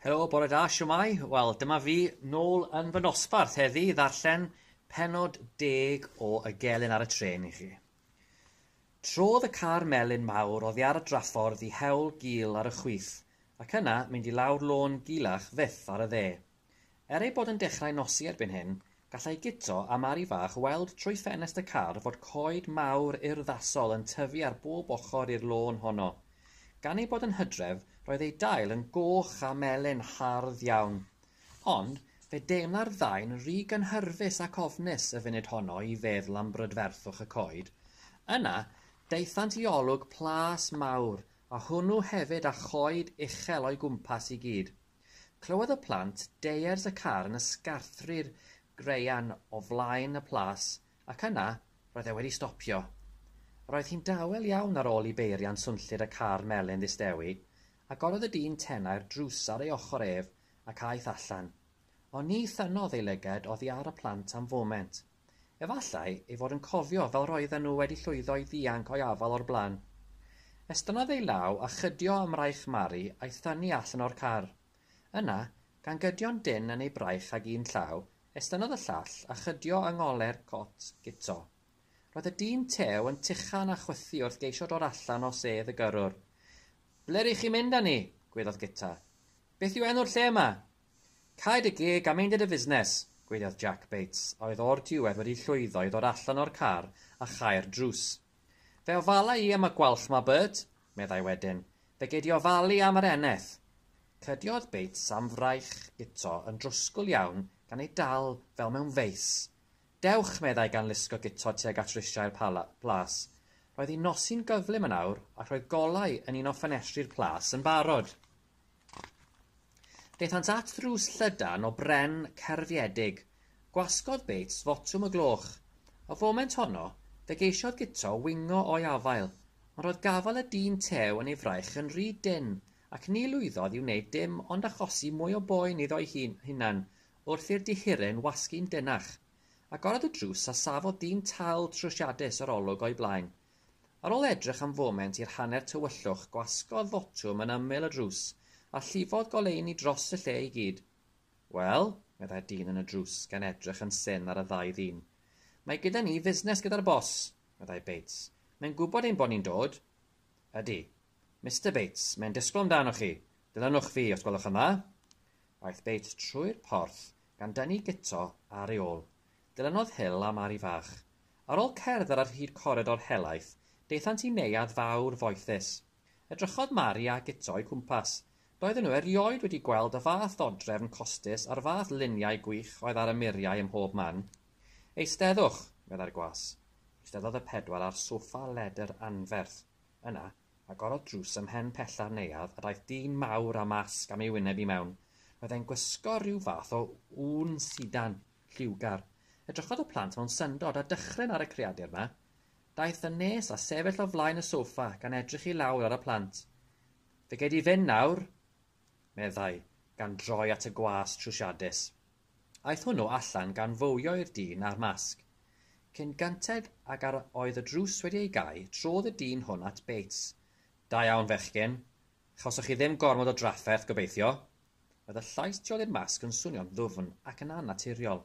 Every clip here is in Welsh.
Helo, bore da, siwmai? Wel, dyma fi nôl yn fy nosbarth heddi i ddarllen penod deg o Y Gelyn ar y Tren i chi. Trodd y car melyn mawr oddi ar y draffordd i hewl gul ar y chwith, ac yna mynd i lawr lôn gilach fyth ar y dde. Er ei bod yn dechrau nosi erbyn hyn, gallai Guto a Mari Fach weld trwy ffenest y car fod coed mawr urddasol yn tyfu ar bob ochr i'r lôn honno. Gan ei bod yn hydref, roedd ei dail yn goch a melyn hardd iawn. Ond, fe deimla'r ddau'n ry gynhyrfus ac ofnus y funud honno i feddwl am brydferthwch y coed. Yna, daethant i olwg plas mawr, a hwnnw hefyd â choed uchel o'i gwmpas i gyd. Clywodd y plant deiers y car yn ysgarthru'r graean o flaen y plas, ac yna, roedd e wedi stopio. Roedd hi'n dawel iawn ar ôl i beiriant swnllyd y car melyn ddistewi. Agorodd y dyn tenau'r drws ar ei ochr ef ac aeth allan. Ond ni thynnodd ei lyged oddi ar y plant am foment. Efallai ei fod yn cofio fel roedden nhw wedi llwyddo i ddianc o'i afal o'r blaen. Estynnodd ei law a chydio ym mraich Mari a'i thynnu allan o'r car. Yna, gan gydio'n dynn yn ei braich ag un llaw, estynnodd y llall a chydio yng ngole'r cot guto. Roedd y dyn tew yn tuchan a chwythu wrth geisio dod allan o sedd y gyrrwr. Ble ry'ch chi'n mynd â ni? gwedodd Guto. Beth yw enw'r lle yma? Cau dy geg a meindia dy fusnes! gweidiodd Jack Bates, a oedd o'r diwedd wedi llwyddo i ddod allan o'r car a chau'r drws. Fe ofala i am y gwalch 'ma, Bert! meddai wedyn. Fe gei di ofalu am yr eneth! Cydiodd Bates am fraich guto yn drwsgl iawn gan ei dal fel mewn feis. Dewch! meddai gan lusgo guto tuag at risiau'r plas. Roedd hi'n nosi'n gyflym yn awr ac roedd golau yn un o ffenestri'r plas yn barod. Daethant at ddrws llydan o bren cerfiedig. Gwasgodd Bates fotwm y gloch. Y foment honno, fe geisiodd Guto wingo o'i afael, ond roedd gafael y dyn tew yn ei fraich yn rhy dynn, ac ni lwyddodd i wneud dim ond achosi mwy o boen iddo'i hunan wrth i'r dihiryn wasgu'n denach. Agorodd y drws a safodd dyn tal trwsiadus yr olwg o'i blaen, Ar ôl edrych am foment i'r hanner tywyllwch, gwasgodd fotwm yn ymyl y drws, a llifodd goleuni dros y lle i gyd. Wel, meddai'r dyn yn y drws, gan edrych yn syn ar y ddau ddyn. Mae gyda ni fusnes gyda'r bos, meddai Bates. Mae'n gwybod ein bod ni'n dod. Ydy. Mister Bates, mae'n disgwyl amdanoch chi. Dilynwch fi, os gwelwch yn dda. Aeth Bates trwy'r porth, gan dynnu Guto ar ei ôl. Dilynodd Hill a Mari fach. Ar ôl cerdded ar hyd coridor helaeth, daethant i neuadd fawr foethus. Edrychodd Mari a Guto o'u cwmpas. Doedden nhw erioed wedi gweld y fath ddodrefn costus a'r fath luniau gwych oedd ar y muriau ym mhob man. Eisteddwch, meddai'r gwas. Eisteddodd y pedwar ar soffa ledr anferth. Yna, Agorodd drws ym mhen pella'r neuadd a daeth dyn mawr â masg am ei wyneb i mewn. Roedd e'n gwisgo rhyw fath o ŵn sidan, lliwgar. Edrychodd y plant mewn syndod a dychryn ar y creadur 'ma. Daeth yn nes a sefyll o flaen y soffa, gan edrych i lawr ar y plant. Fe gei di fynd nawr! meddai, gan droi at y gwas trwsiadus. Aeth hwnnw allan gan fowio i'r dyn â'r masg. Cyn gynted ag yr oedd y drws wedi ei gau, trodd y dyn hwn at Bates. Da iawn, fechgyn. Chawsoch chi ddim gormod o drafferth, gobeithio? Roedd y llais tu ôl i'r masg yn swnio'n ddwfn ac yn annaturiol.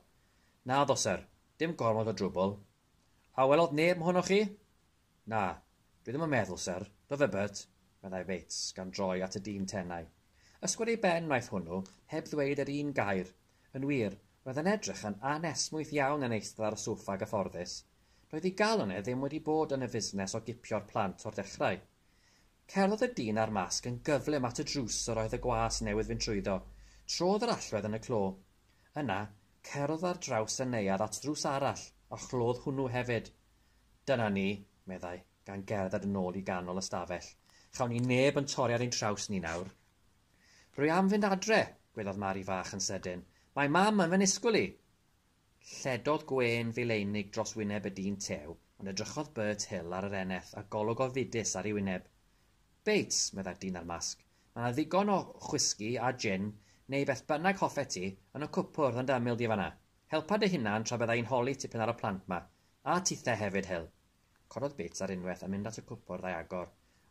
Naddo, syr. Dim gormod o drwbl. A welodd neb mohonoch chi? Na, dwi ddim yn meddwl, syr. Do fe, Bert? meddai Bates, gan droi at y dyn tenau. Ysgwyd ei ben wnaeth hwnnw, heb ddweud yr un gair. Yn wir, roedd yn edrych yn anesmwyth iawn yn eistedd ar y soffa gyfforddus. Doedd ei galon e ddim wedi bod yn y fusnes o gipio'r plant o'r dechrau. Cerddodd y dyn â'r masg yn gyflym at y drws yr oedd y gwas newydd fynd trwyddo. Trodd yr allwedd yn y clo. Yna, cerddodd ar draws y neuadd at ddrws arall, a chlodd hwnnw hefyd. Dyna ni, meddai, gan gerdded yn ôl i ganol y stafell. Chawn ni neb yn torri ar ein traws ni nawr. Rwy am fynd adre, gwelodd Mari fach yn sydyn. Mae Mam yn fy nisgwyl i! Lledodd gwên fileinig dros wyneb y dyn tew, ond edrychodd Bert Hill ar yr eneth a golwg ofidus ar ei wyneb. Bates, meddai'r dyn â'r masg, mae yna ddigon o chwisgi a jin, neu beth bynnag hoffet ti, yn y cwpwrdd yn dy ymyl di fan 'na. Helpa dy hunan tra bydda i'n holi tipyn ar y plant 'ma, a tithe hefyd, Hil! Cododd Bits ar unwaith a mynd at y cwpwrdd a'i agor,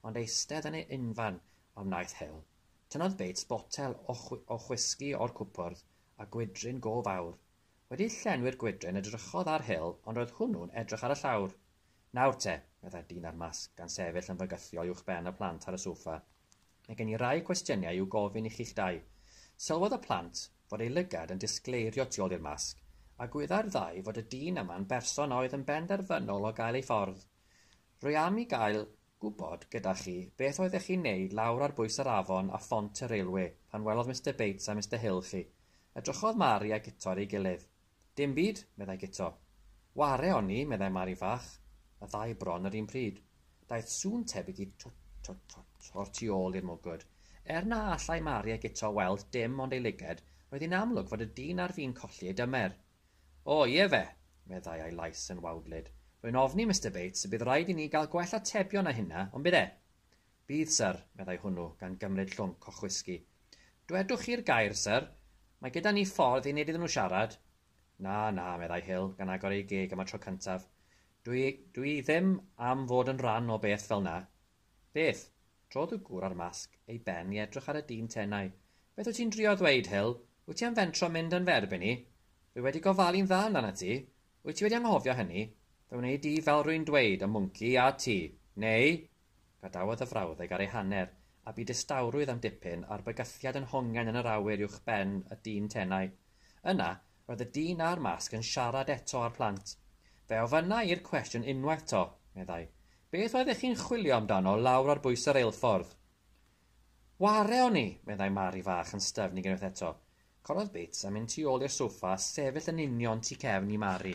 ond eistedd yn ei unfan a wnaeth Hil. Tynnodd Bits botel o o whisgi o'r cwpwrdd, a gwydryn go fawr. Wedi llenwi'r gwydryn edrychodd ar Hil ond roedd hwnnw'n edrych ar y llawr. Nawr te, meddai'r dyn â'r masg gan sefyll yn fygythiol uwchben y plant ar y soffa. Mae gen i rai cwestiynau i'w gofyn i chi'ch dau. Sylwodd y plant fod ei lygad yn disgleirio tu ôl i'r masg, a gwyddai'r ddau fod y dyn yma'n berson a oedd yn benderfynol o gael ei ffordd. Rwy am i gael gwybod gyda chi beth oeddech chi'n neud lawr ar bwys yr afon a phont y railwê pan welodd Mister Bates a Mister Hill chi. Edrychodd Mari a Guto ar ei gilydd. Dim byd, meddai Guto. Ware o'n i, meddai Mari fach, y ddau bron yr un pryd. Daeth sŵn tebyg i twt, twt, twt o'r tu ôl i'r mwgwd. Er na allai Mari a Guto weld dim ond ei lyged, roedd hi'n amlwg fod y dyn ar fin colli ei dymer. O, ie fe! meddai a'i lais yn wawdlyd. Rwy'n ofni, Mister Bates, y bydd raid i ni gael gwell atebion na hynna, ond bydd e? Bydd, syr, meddai hwnnw, gan gymryd llwnc o chwisgi. Dwedwch chi'r gair, syr. Mae gyda ni ffordd i wneud iddyn nhw siarad. Na, na, meddai Hill, gan agor ei geg am y tro cyntaf. Dwi, dwi ddim am fod yn rhan o beth fel 'na. Beth? Trodd y gŵr â'r masg ei ben i edrych ar y dyn tenau. Beth wyt ti'n drio ddweud, Hill? Wyt ti am fentro mynd yn fy erbyn i? Dwi wedi gofalu'n dda amdanat ti. Wyt ti wedi anghofio hynny? Fy wneud i fel rwy'n dweud, y mwnci, a ti. Neu, Gadawodd y frawddeg ar ei hanner, a bu distawrwydd am dipyn a'r bygythiad yn hongian yn yr awyr uwch ben y dyn tenau. Yna, roedd y dyn â'r masg yn siarad eto â'r plant. Fe ofynna i'r cwestiwn unwaith 'to, meddai, 'Beth oeddech chi'n chwilio amdano lawr ar bwys y reilffordd? Ware o'n i! meddai Mari fach yn styfnig unwaith eto. Corodd Bates a mynd tu ôl i'r soffa a sefyll yn union tu cefn i Mari.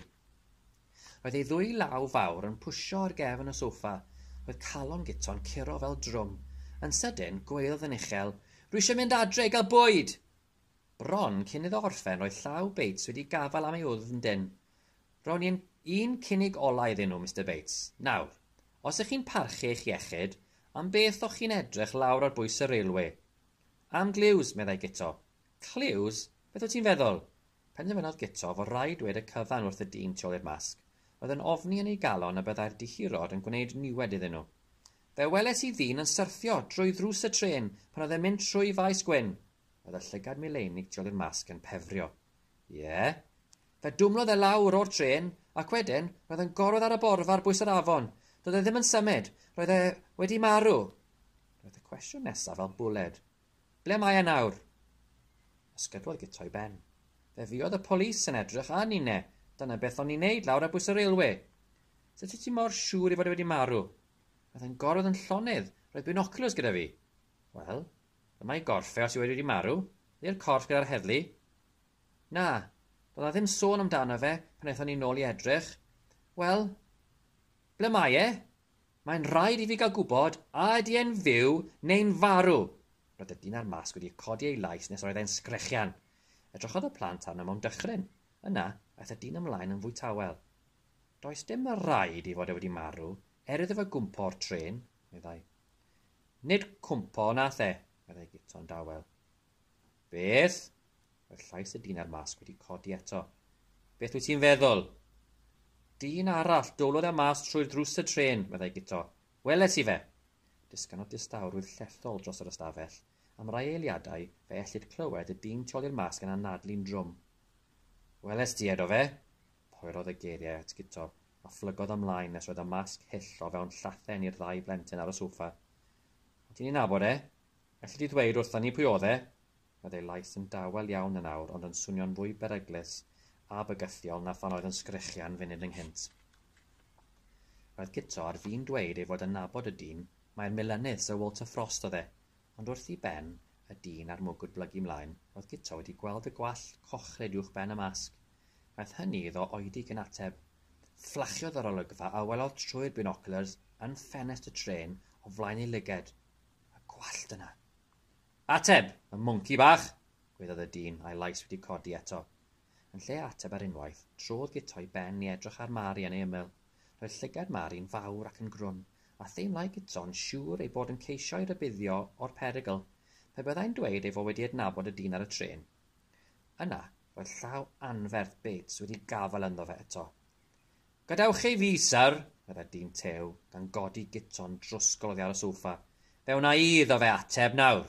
Roedd ei ddwy law fawr yn pwsio ar gefn y soffa, roedd calon Guto'n curo fel drwm. Yn sydyn, gweodd yn uchel, Rwy eisiau mynd adre i gael bwyd! Bron cyn iddo orffen roedd llaw Bates wedi gafael am ei wddf yn dynn. Rown i un, un cynnig olau iddyn nhw, Mister Bates. Nawr, os ych chi'n parchu eich iechyd, am beth o'ch chi'n edrych lawr ar bwys y railwê? Am Glews, meddai Guto. Clews? Beth wyt ti'n feddwl? Penderfynodd Guto fod rhaid dweud y cyfan wrth y dyn tu ol i'r masg. Roedd yn ofni yn ei galon y byddai'r dihirod yn gwneud niwed iddyn nhw. Fe weles i ddyn yn syrthio drwy ddrws y trên pan oedd e'n mynd trwy Faes Gwyn! Roedd y llygad mileinig tu ol i'r masg yn pefrio. Ie? Fe dwmlodd e lawr o'r trên, ac wedyn, roedd yn gorwedd ar y borfa ar bwys yr afon. Doedd e ddim yn symud. Roedd e wedi marw. Roedd y cwestiwn nesaf fel bwled. Ble mae e nawr? Ysgydwodd Guto i ben. Fe fuodd y polis yn edrych a ninne. Dyna beth o'n i'n neud lawr ar bwys y railwê. Sut wyt ti mor siŵr ei fod e wedi marw? Roedd e'n gorwedd yn llonydd. Roedd binoculars gyda fi. Wel, dyma i gorff e os yw e wedi marw. Ydi'r corff gyda'r heddlu? Na, doedd 'na ddim sôn amdano fe pan aethon ni nôl i edrych. Wel, ble mae e? Mae'n rhaid i fi gael gwybod a ydy e'n fyw neu'n farw. Roedd y dyn â'r masg wedi codi ei lais nes roedd e'n sgrechian. Edrychodd y plant arno mewn dychryn. Yna, aeth y dyn ymlaen yn fwy tawel. Does dim y rhaid i fod e wedi marw, er iddo fe gwmpo o'r trên, meddai. Nid cwmpo nath e, meddai Guto'n dawel. Beth? Roedd llais y dyn a'r masg wedi codi eto. Beth wyt ti'n feddwl? Dyn arall, dowlodd e mas trwy'r drws y tren, meddai Guto. Weles i fe! Disganodd distawrwydd llethol dros yr ystafell. Am rai eiliadau, fe ellid clywed y dyn tu ôl i'r masg yn anadlu'n drwm. Weles di edo fe? Poerodd y geiriau at Guto, a phlygodd ymlaen nes roedd y masg hyll o fewn llathen i'r ddau blentyn ar y sofa. O ti'n ei nabod e? Elli di ddweud wrtha ni pwy oedd e? Roedd ei lais yn dawel iawn yn awr ond yn swnio'n fwy beryglus a bygythiol na phan oedd yn sgrechian funud ynghynt. Roedd Guto ar fin dweud ei fod yn nabod y dyn, mai'r Milenydd Sir Walter Frost oedd e, ond wrth i ben y dyn a'r mwgwd blygu mlaen, roedd Guto wedi gweld y gwallt cochlyd uwch ben y masg. Wnaeth hynny iddo oedi cyn ateb. Fflachiodd yr olygfa a welodd trwy'r binoculars yn ffenest y trên o flaen ei lyged. a gwallt yna. Ateb, y mwnci bach! gweiddodd y dyn, a'i lais wedi codi eto. Yn lle ateb ar unwaith, trodd Guto'i ben i edrych ar Mari yn ei ymyl. Roedd llygad Mari'n fawr ac yn grwn, a theimlai Guto'n siŵr ei bod yn ceisio'i rybuddio o'r perygl, pe byddai'n dweud ei fod wedi adnabod y dyn ar y trên. Yna, roedd llaw anferth Bates wedi gafael ynddo fe eto. Gadewch ei fi, syr, fydde dyn tew, gan godi guto'n drwsgl oddi ar y sofa. Fe wna i iddo fe ateb nawr.